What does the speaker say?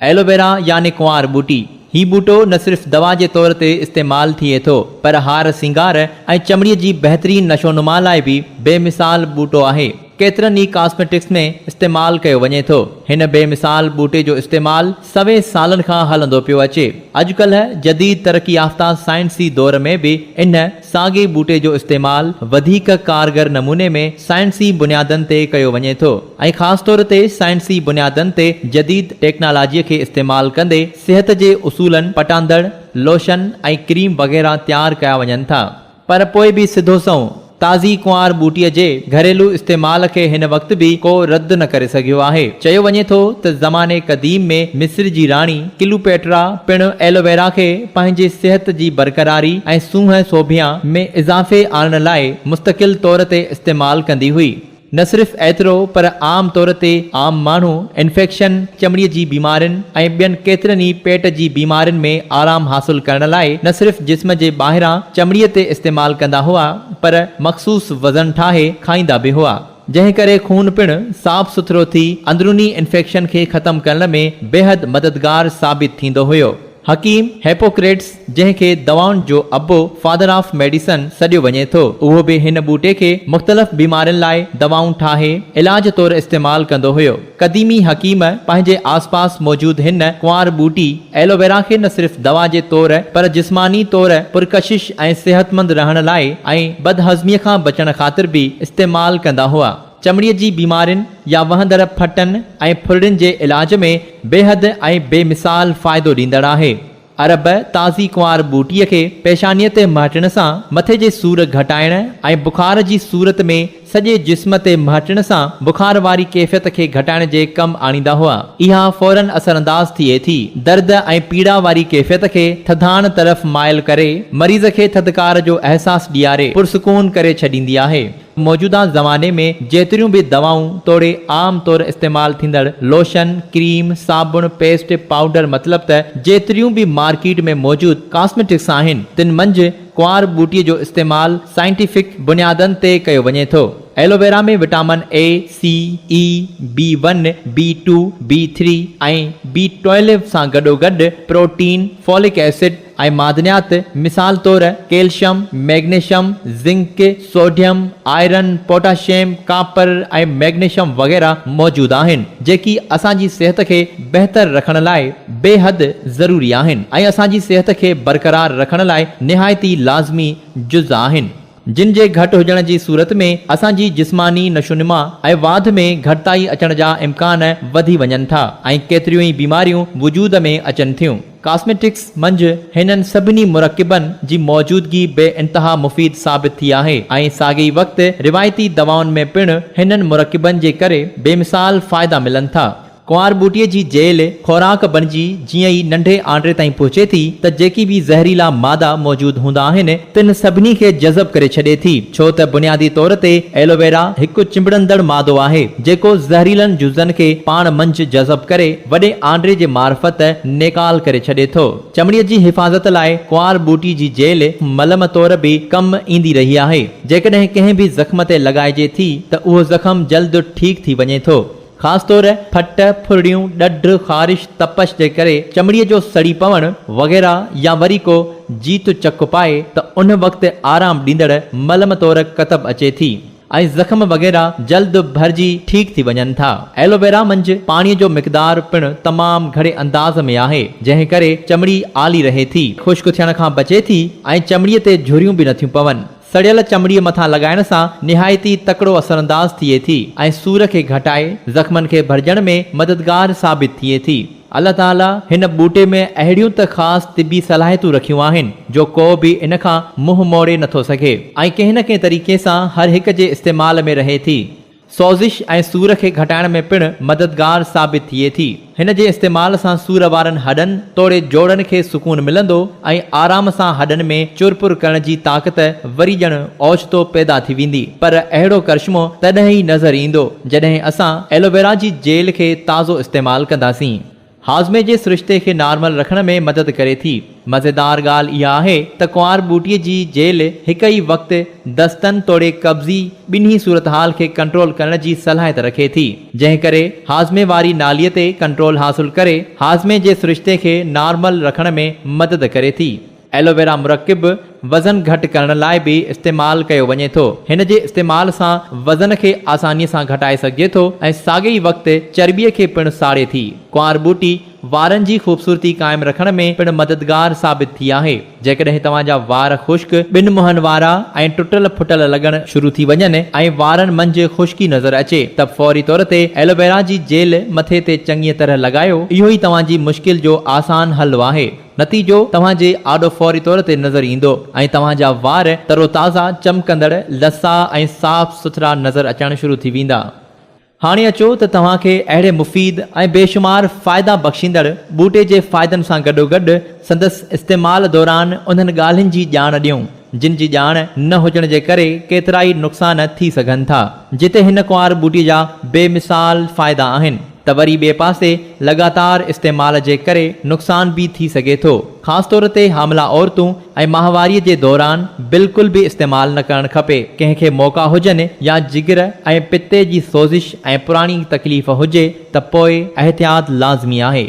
Aloe vera يعني ڪنوار ٻوٽي، هي ٻوٽو نه صرف دوا جي طور تي استعمال ٿئي ٿو پر هار سينگار ۽ چمڙي جي بهترين نشونما لاء به بي مثال ٻوٽو آهي. ڪيترن ئي ڪاسميٽڪس ۾ استعمال ڪيو وڃي ٿو. هن بي مثال ٻوٽي جو استعمال سوين سالن کان هلندو پيو اچي. اڄڪلهه جديد ترقي يافته سائنسي دور ۾ به ان ساڳئي ٻوٽي جو استعمال وڌيڪ ڪارگر نموني ۾ سائنسي بنيادن تي ڪيو وڃي ٿو ۽ خاص طور تي سائنسي بنيادن تي جديد ٽيڪنالاجي کي استعمال ڪندي صحت جي اصولن پٽاندڙ لوشن ۽ ڪريم وغيره تيار ڪيا وڃن ٿا پر پوء به سڌو سنئون تازي ڪنوار ٻوٽي جي گهريلو استعمال کي هن وقت به ڪو رد نه ڪري سگهيو آهي چيو وڃي ٿو ته زماني قديم ۾ مصر جي راڻي ڪلوپيٽرا پڻ ايلوويرا کي پنهنجي صحت جي برقراري ۽ سونهن سوڀيان ۾ اضافي آڻڻ لاء مستقل طور تي استعمال ڪندي هئي. نه صرف ايترو پر عام طور تي عام ماڻهو انفيڪشن، چمڙي جي بيمارين ۽ ٻين ڪيترن ئي پيٽ جي بيمارين ۾ آرام حاصل ڪرڻ لاء نه صرف جسم جي ٻاهران چمڙي تي استعمال ڪندا هئا پر مخصوص وزن ٺاهي کائيندا به هئا. جنهن ڪري خون پڻ صاف سٿرو ٿي اندروني انفيڪشن کي ختم ڪرڻ ۾ بيحد مددگار ثابت ٿيندو هيو. حڪيم هيپوڪريٽس جنهن کي دوائن جو ابو، Father of Medicine، سڏيو وڃي ٿو، اهو به هن ٻوٽي کي مختلف بيمارين لاء دوائون ٺاهي علاج طور استعمال ڪندو هيو. قديمي حڪيم پنهنجي آس پاس موجود هن ڪنوار ٻوٽي ايلوويرا کي نه صرف دوا جي طور پر جسماني طور پرڪشش ۽ صحتمند رهڻ لاء ۽ بدهضمي کان بچڻ خاطر به استعمال ڪندا هئا. چمڙي جي بيمارين يا وهندڙ ڦٽن ۽ ڦرڙين جي علاج ۾ بيحد ۽ بي مثال فائدو ڏيندڙ آهي. عرب تازي ڪنوار ٻوٽي کي پيشانيء تي مهٽڻ سان مٿي جي سور گهٽائڻ ۽ بخار جي صورت ۾ سڄي جسم تي مهٽڻ سان بخار واري ڪيفيت کي گهٽائڻ جي ڪم آڻيندا هئا. اها فوراً اثرانداز ٿئي ٿي. درد ۽ پيڙا واري ڪيفيت کي ٿڌاڻ طرف مائل ڪري مريض کي ٿڌڪار جو احساس ڏياري پرسڪون ڪري ڇڏيندي آهي. موجوده زماني ۾ جيتريون به دوائون توڙي عام طور استعمال ٿيندڙ لوشن، ڪريم، صابڻ، پيسٽ، پائوڊر مطلب ته جيتريون به مارڪيٽ ۾ موجود ڪاسميٽڪس آهن تن منجهه ڪنوار ٻوٽي جو استعمال سائنٽيفڪ بنيادن تي ڪيو وڃي ٿو. Aloe vera ۾ vitamin A, C, A, B one, B two, B three ۽ B twelve سان گڏوگڏ پروٽين، فولڪ ايسڊ، ۽ معدنيات مثال طور calcium, magnesium, zinc, sodium, iron, potassium, copper ۽ magnesium وغيره موجود آهن، جيڪي اسان جي صحت کي بهتر رکڻ لاء بيحد ضروري آهن ۽ اسان جي صحت کي برقرار رکڻ لاء نهايت ئي لازمي جز آهن. جن جي گهٽ هجڻ جي صورت ۾ اسان جي جسماني نشونما ۽ واڌ ۾ گهٽتائي اچڻ جا امڪان وڌي وڃن ٿا ۽ ڪيتريون ئي بيماريون وجود ۾ اچن ٿيون. ڪاسميٽڪس منجهه هنن سڀني مرڪبن جي موجودگي بي انتها مفيد ثابت ٿي آهي ۽ ساڳئي وقت روايتي دوائن ۾ پڻ هنن مرڪبن جي ڪري بيمثال فائدا ملن ٿا. ڪنوار ٻوٽي جي جيل خوراڪ بڻجي جيئن ئي ننڍي آنڊري تائين پهچي ٿي ته جيڪي به زهريلا مادا موجود هوندا آهن تن سڀني کي جذب ڪري ڇڏي ٿي ڇو ته بنيادي طور تي ايلوويرا هڪ چنبڙندڙ مادو آهي جيڪو زهريلن جزن کي پاڻ منجهه جذب ڪري وڏي آنڊري جي معرفت نيڪال ڪري ڇڏي ٿو چمڙي جي حفاظت لاء ڪنوار ٻوٽي جي جيل ملم طور به ڪم ايندي رهي آهي جيڪڏهن ڪنهن به زخم تي لڳائجي ٿي ته اهو زخم جلد ٺيڪ ٿي وڃي ٿو خاص طور ڦٽ، ڦرڙيون، ڏڍ، خارش، تپش جي ڪري چمڙي جو سڙي پوڻ وغيره يا وري ڪو جيت چڪ پائي ته ان وقت آرام ڏيندڙ ملم طور ڪتب اچي ٿي ۽ زخم وغيره جلد ڀرجي ٺيڪ ٿي وڃن ٿا. ايلوويرا منجھ پاڻي جو مقدار پڻ تمام گھڙي انداز ۾ آهي جنهن ڪري چمڙي آلي رهي ٿي، خشڪ ٿيڻ کان بچي ٿي ۽ چمڙي تي جھريون به نٿيون پون. سڙيل چمڙي مٿان لڳائڻ سان نهايت ئي تڪڙو اثرانداز ٿئي ٿي ۽ سور کي گهٽائي زخمن کي ڀرجڻ ۾ مددگار ثابت ٿئي ٿي. الله تعاليٰ هن ٻوٽي ۾ اهڙيون ته خاص طبي صلاحيتون رکيون آهن جو ڪو به ان کان منهن موڙي نٿو سگهي. ۽ ڪنهن نه ڪنهن طريقي سان هر هڪ جي استعمال ۾ رهي ٿي. سوزش ۽ سور کي گهٽائڻ ۾ پڻ مددگار ثابت ٿئي ٿي. هن جي استعمال سان سور وارن هڏن توڙي جوڙن کي سڪون ملندو ۽ آرام سان هڏن ۾ چرپر ڪرڻ جي طاقت وري ڄڻ اوچتو پيدا ٿي ويندي پر اهڙو ڪرشمو تڏهن ئي نظر ايندو جڏهن اسان ايلوويرا جي جيل کي تازو استعمال ڪنداسين. هاضمي جي سرشتي کي نارمل رکڻ ۾ مدد ڪري ٿي. مزيدار ڳالهه اها آهي ته ڪنوار ٻوٽي جي جيل هڪ ئي وقت دستن توڙي قبضي ٻنهي صورتحال کي ڪنٽرول ڪرڻ جي صلاحيت رکي ٿي. جنهن ڪري هاضمي واري نالي تي ڪنٽرول حاصل ڪري هاضمي جي سرشتي کي نارمل رکڻ ۾ مدد ڪري ٿي. ايلوويرا مرڪب وزن گهٽ ڪرڻ لاء به استعمال ڪيو وڃي ٿو. هن جي استعمال سان وزن کي آساني سان گهٽائي سگهجي ٿو ۽ ساڳئي ئي وقت چرٻيء کي پڻ ساڙي ٿي. ڪنوار ٻوٽي وارن جي خوبصورتي قائم رکڻ ۾ پڻ مددگار ثابت ٿي آهي. جيڪڏهن توهان جا وار خشڪ، ٻن منهن وارا ۽ ٽٽل ڦٽل لڳڻ شروع ٿي وڃن ۽ وارن منجهه خشڪي نظر اچي ته فوري طور تي ايلوويرا جي جيل مٿي تي چڱيء طرح لڳايو. اهو ئي توهان جي مشڪل جو آسان حل آهي. نتيجو توهان جي آڏو فوري طور تي نظر ايندو ۽ توهان جا وار تر و تازا، چمڪندڙ، لسا ۽ صاف سٿرا نظر اچڻ شروع ٿي ويندا. هاڻي اچو ته توهان کي اهڙي مفيد ۽ بيشمار فائدا بخشيندڙ ٻوٽي جي فائدن سان گڏوگڏ سندس استعمال دوران انهن ڳالهين جي ڄاڻ ڏيون. جن جي ڄاڻ نه هجڻ جي ڪري ڪيترائي نقصان ٿي سگهن ٿا. جتي هن ڪنوار ٻوٽي جا بي مثال فائدا آهن ته وري ٻئي پاسي لڳاتار استعمال جي ڪري نقصان به ٿي سگهي ٿو. خاص طور تي حاملا عورتون ۽ ماهواري جي دوران بلڪل به استعمال نه ڪرڻ کپي. ڪنهن کي موڪا هجن يا جگر ۽ پتي جي سوزش ۽ پراڻي تڪليف هجي ته پوء احتياط لازمي آهي.